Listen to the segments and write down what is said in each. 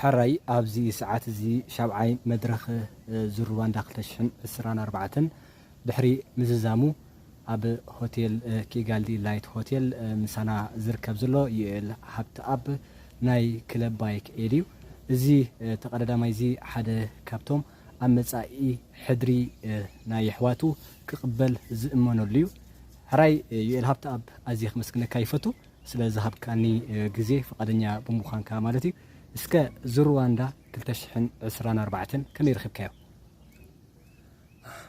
ሕራይ ኣብዚ ሰዓት እዚ ሻብዓይ መድረኽ ዙር ሩዋንዳ ክልተ ሽሕን ዕስራን ኣርባዕተን ድሕሪ ምዝዛሙ ኣብ ሆቴል ኪጋሊ ላይት ሆቴል ምሳና ዝርከብ ዘሎ ዩኤል ሃብትኣብ ናይ ክለብ ባይክ ኤድ እዩ። እዚ ተቐዳዳማይ እዚ ሓደ ካብቶም ኣብ መጻኢ ሕድሪ ናይ የሕዋቱ ክቕበል ዝእመነሉ እዩ። ሕራይ ዩኤል ሃብትኣብ ኣዝየ ከመስግነካ ይፈቱ። ስለ ዝሃብካኒ ግዜ ፍቃደኛ ብምዃንካ ማለት እዩ እስከ ዝሩዋንዳ ክልተ ሽሕን ዕስራን ኣርባዕተን ከመይ ረኺብካዮ?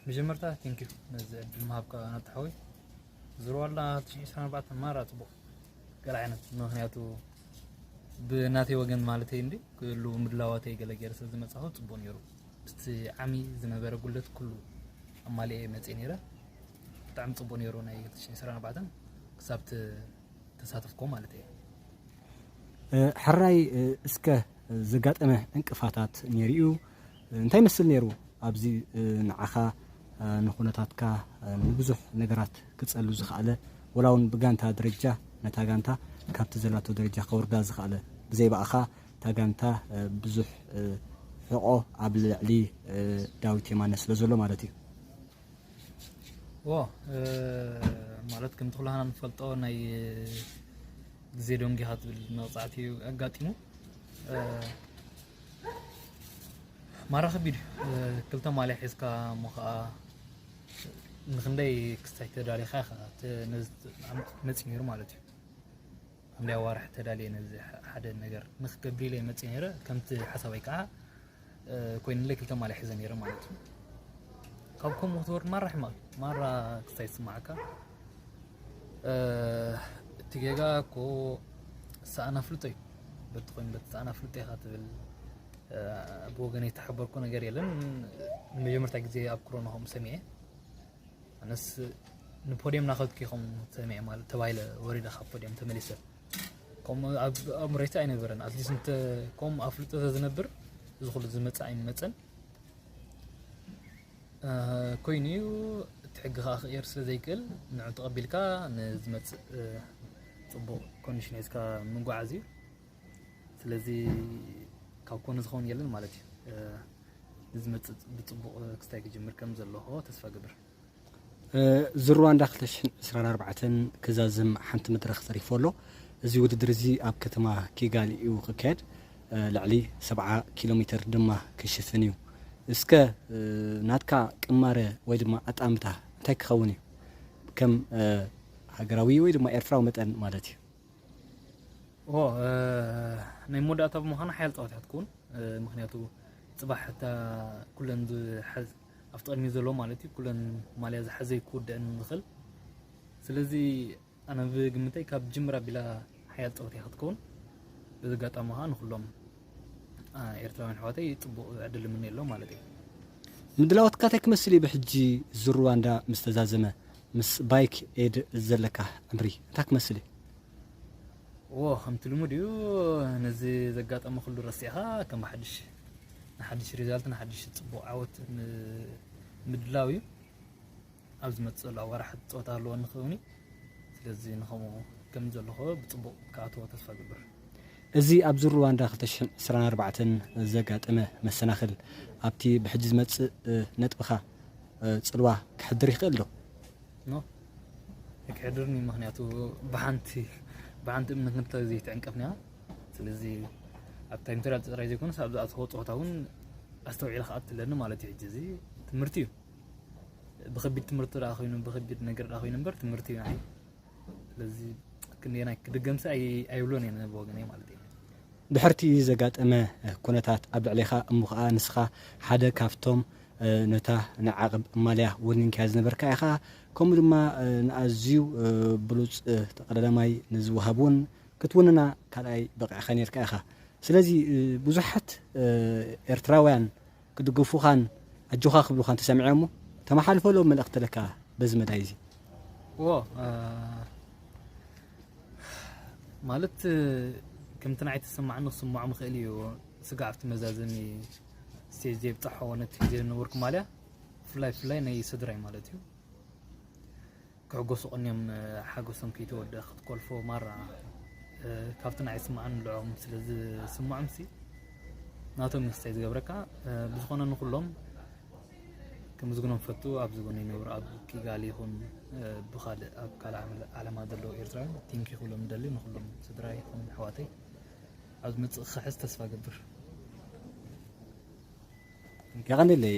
መጀመርታ ቴንኪዩ ነዚ ዕድል ምሃብካ ናቱ ሓወይ ዝሩዋንዳ ክልተ ሽሕን ዕስራን ኣርባዕተን ማራ ጽቡቅ ገለ ዓይነት ምኽንያቱ ብናተይ ወገን ማለተይ እንዲ ክሉ ምድላዋተይ ገለ ገይረ ስለ ዝመጻኹ ጽቡቅ ኔሩ ምስቲ ዓሚ ዝነበረ ጉድለት ኩሉ ኣማሊኤ መጺኤ ኔረ ብጣዕሚ ጽቡቅ ነይሩ ናይ 2024 ክሳብ ተሳተፍኮ ማለት እየ። ሕራይ እስከ ዘጋጠመ ዕንቅፋታት ነይሩ እዩ እንታይ ይመስል ነይሩ ኣብዚ ንዓኻ ንኹነታትካ ንብዙሕ ነገራት ክጸሉ ዝኸኣለ ወላ ውን ብጋንታ ደረጃ ነታ ጋንታ ካብቲ ዘላቶ ደረጃ ከውርዳ ዝኸኣለ ብዘይ ብኣኻ እታ ጋንታ ብዙሕ ሕቆ ኣብ ልዕሊ ዳዊት የማነ ስለዘሎ ማለት እዩ። ዎ ማለት ከምቲ ኩላህና ንፈልጦ ናይ ግዜ ደንጊኻ ትብል መቕጻዕቲ እዩ ኣጋጢሙ ማራ ከቢድ እዩ ክልተ ማልያ ሒዝካ እሞ ከዓ ንክንደይ ክስታይ ተዳሊኻ ኢኻ ነዚ መፂኡ ነይሩ ማለት እዩ ሓምላይ ኣዋርሕ ተዳልየ ነዚ ሓደ ነገር ንክገብር ኢለ መፅእ ነረ ከምቲ ሓሳባይ ከዓ ኮይኑለይ ክልተ ማልያ ሒዘ ነረ ማለት እዩ ካብ ከምኡ ክትወርድ ማራ ሕማቅ እዩ ማራ ክስታይ ዝስማዓካ እቲ ጌጋ እኮ ሰኣን ኣፍልጦ እዩ በቲ ኮይኑ በቲ ሰኣን ኣፍልጦ ኢኻ ትብል ብወገነይ ተሓበርኩ ነገር የለን ንመጀመርታ ግዜ ኣብ ክሮና ከምኡ ሰሚዐ ኣነስ ንፖድየም ናኸድኩ ከም ሰሚዐ ማለት ተባሂለ ወሪደ ካብ ፖድየም ተመሊሰ ከምኡ ኣብ ኣእምሮይታ ኣይነበረን ኣትሊስት እንተ ከምኡ ኣፍልጦ ተዝነብር እዚ ኩሉ ዝመፅእ ኣይመፀን ኮይኑ እዩ እቲ ሕጊ ከዓ ክቅየር ስለ ዘይክእል ንዑ ተቐቢልካ ንዝመፅእ ፅቡቅ ኮንዲሽን ሒዝካ ምጓዓዝ እዩ ስለዚ ካብ ኮነ ዝኸውን የለን ማለት እዩ ንዝመፅእ ብፅቡቕ ክስታይ ክጅምር ከም ዘለኹ ተስፋ ግብር ዝሩዋንዳ 224 ክዛዝም ሓንቲ መድረኽ ተሪፎ ኣሎ እዚ ውድድር እዚ ኣብ ከተማ ኪጋሊ እዩ ክካየድ ልዕሊ 70 ኪሎ ሜትር ድማ ክሽፍን እዩ እስከ ናትካ ቅማረ ወይ ድማ ኣጣምታ እንታይ ክኸውን እዩ ከም ሃገራዊ ወይ ድማ ኤርትራዊ መጠን ማለት እዩ ናይ መወዳእታ ብምዃኑ ሓያል ፀወታ እያ ትከውን ምክንያቱ ፅባሕ እታ ኩለን ዝሓዝ ኣብቲ ቅድሚ ዘሎ ማለት እዩ ኩለን ማልያ ዝሓዘ ክውድእን ዝኽእል ስለዚ ኣነ ብግምተይ ካብ ጅምር ኣቢላ ሓያል ፀወታ እያ ክትከውን በዚ ኣጋጣሚ ከዓ ንኩሎም ኤርትራውያን ኣሕዋተይ ፅቡቅ ዕድል እምነየሎም ማለት እዩ ምድላዎትካ እንታይ ክመስል እዩ ብሕጂ እዚ ሩዋንዳ ምስ ተዛዘመ ምስ ባይክ ኤድ ዘለካ ዕምሪ እንታይ ክመስል እዩ? ዎ ከምቲ ልሙድ እዩ ነዚ ዘጋጠመ ኩሉ ረሲዕኻ ከም ብሓድሽ ንሓድሽ ሪዛልት ንሓድሽ ጽቡቕ ዓወት ምድላው እዩ። ኣብ ዝመጽእ ዘሎ ኣዋርሕ ጸወታ ኣለወኒ ክኸውን እዩ። ስለዚ ንከምኡ ከም ዘለኹ ብጽቡቕ ክኣትዎ ተስፋ እገብር። እዚ ኣብዚ ሩዋንዳ ክልተ ሽሕን ዕስራን ኣርባዕተን ዘጋጠመ መሰናኽል ኣብቲ ብሕጂ ዝመጽእ ነጥብኻ ጽልዋ ከሕድር ይኽእል ዶ? ኖ ኣይክሕድርን እዩ ምክንያቱ ብሓንቲ ብሓንቲ እምነት ንብታ ዘይተዕንቀፍና ስለዚ ኣብታ ኢምፔሪያል ጥራይ ዘይኮነስ ኣብዛ ኣትኸ ፀወታ እውን ኣስተውዒለ ክኣቱ ኣለኒ ማለት እዩ ሕጂ እዚ ትምህርቲ እዩ ብከቢድ ትምህርቲ ደኣ ኮይኑ ብከቢድ ነገር ደኣ ኮይኑ እምበር ትምህርቲ እዩ ንዓይ ስለዚ ክንደየናይ ክድገምሲ ኣይብሎን እየ ነብ ወገነይ ማለት እዩ ድሕርቲ ዘጋጠመ ኩነታት ኣብ ልዕሊኻ እሞ ከዓ ንስኻ ሓደ ካብቶም ነታ ንዓቕብ ማልያ ወኒንካያ ዝነበርካ ኢኻ ከምኡ ድማ ንኣዝዩ ብሉፅ ተቐዳዳማይ ንዝወሃብ እውን ክትውንና ካልኣይ በቒዕኻ ነርካ ኢኻ ስለዚ ብዙሓት ኤርትራውያን ክድግፉኻን ኣጆኻ ክብሉኻን ተሰሚዖም'ሞ ተመሓልፈሎም መልእኽቲ ለካ በዚ መዳይ እዚ። እዎ ማለት ከምቲ ንዓይ ተሰማዕኒ ክስምዖም ይኽእል እዩ ስጋዕ ኣብቲ መዛዘሚ ስቴጅ ዘይብጣሖ ነቲ ግዜ ዝነበርኩ ማልያ ብፍላይ ብፍላይ ናይ ስድራይ ማለት እዩ ክዕጎሱ ቀንዮም ሓጎሶም ክይተወድኣ ክትኮልፎ ማራ ካብቲ ንዓይ ዝስምዓኒ ንዕኦም ስለ ዝስምዖምሲ ናቶም እዩ ክስታይ ዝገብረካ ብዝኾነ ንኹሎም ክምስግኖም ፈቱ ኣብዚ ጎኒ ይነብሩ ኣብ ኪጋሊ ይኹን ብካልእ ኣብ ካልእ ዓለማ ዘለዉ ኤርትራውያን ቲንኪ ክብሎም ደሊ ንኩሎም ስድራ ይኹን ኣሕዋተይ ኣብ ዝመፅእ ክሕዝ ተስፋ ገብር የቐንለይ